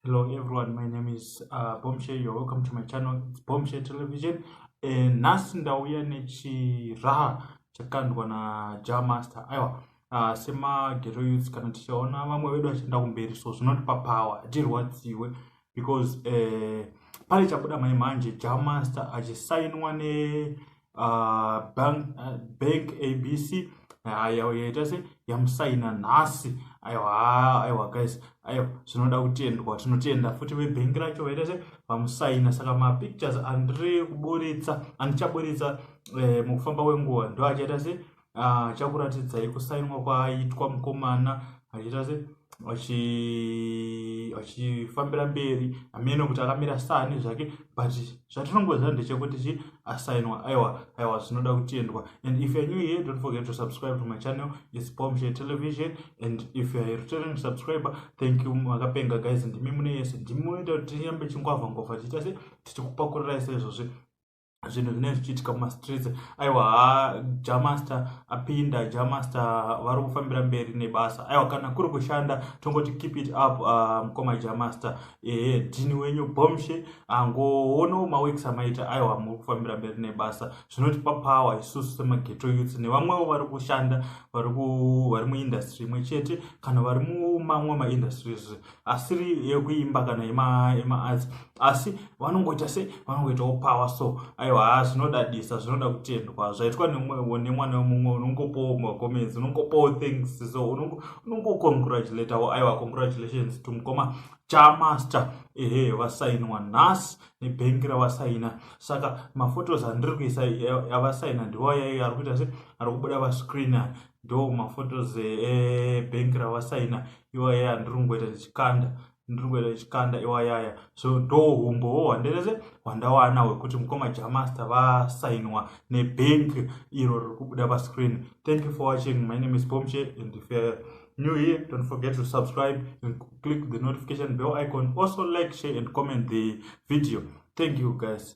hello everyone my name is uh, bombshell you're welcome to my channel it's bombshell television eh, nhasi ndauya nechiraha chakandwa naja master aiwa uh, semagero youth kana tichaona vamwe vedu vachienda kumberi so zvinotipa power hatirwadziwe because eh, pale chabuda mai manje ja master achisainwa ne uh, bank, uh, bank abc aiwa uh, yaita se yamusaina nhasi aiwa aiwa guys aiwa zvinoda kutendwa tinotenda futi vebhengi racho vaita se vamusaina saka mapictures andiri kuburitsa andichaburitsa eh, mukufamba kwenguva ndo achaita se ah, chakuratidzai kusainwa kwaaitwa mukomana achiita se achifambira mberi amene kuti akamira sani zvake but zvatinongoziva ndechekuti chi asainwa aiwa aiwa zvinoda kutendwa and if you're new here don't forget to subscribe to my channel is bombshe television and if you're a returning subscriber thank you makapenga guys ndimi mune yese ndimi munoita kuti tinyambe chingwavha ngwavha tiita se tichikupakurira ise izvozvi zvinhu zvinenge zvichiitika mumastreets aiwa ha jamaster apinda jamaster vari kufambira mberi nebasa aiwa kana kuri kushanda tongoti keep it up uh, mukoma uh, jamaster ehe dhini wenyu bomshe angoonawo uh, maweeks amaita aiwa muri kufambira mberi nebasa zvinotipa power isusu semageto youths nevamwewo vari kushanda vari muindustry imwe chete kana vari mumamwe maindustries asiri yekuimba kana yemaarts asi vanongoita se vanongoitawo power so aiwa haa zvinodadisa zvinoda kutendwa zvaitwa nemwana wemumwe unongopowo macomments unongopowo thanks so unongocongratulatawo aiwa congratulations to mukoma chamaster ehe vasainwa nhasi nebhengi ravasaina saka mafotos andiri kuisa avasaina ndivo yaiyo ari kuita se ari kubuda vascreener ndo mafotos ebhengi eh, ravasaina iwayaya ndiri kungoita ndichikanda ndiri kungoita ndichikanda iwayaya so ndo humbowo hwanderese hwandawana hwekuti mukoma jamasta vasainwa nebank iro riri kubuda pascreen thank you for watching my name is bomche and if you're new here don't forget to subscribe and click the notification bell icon also like share and comment the video thank you guys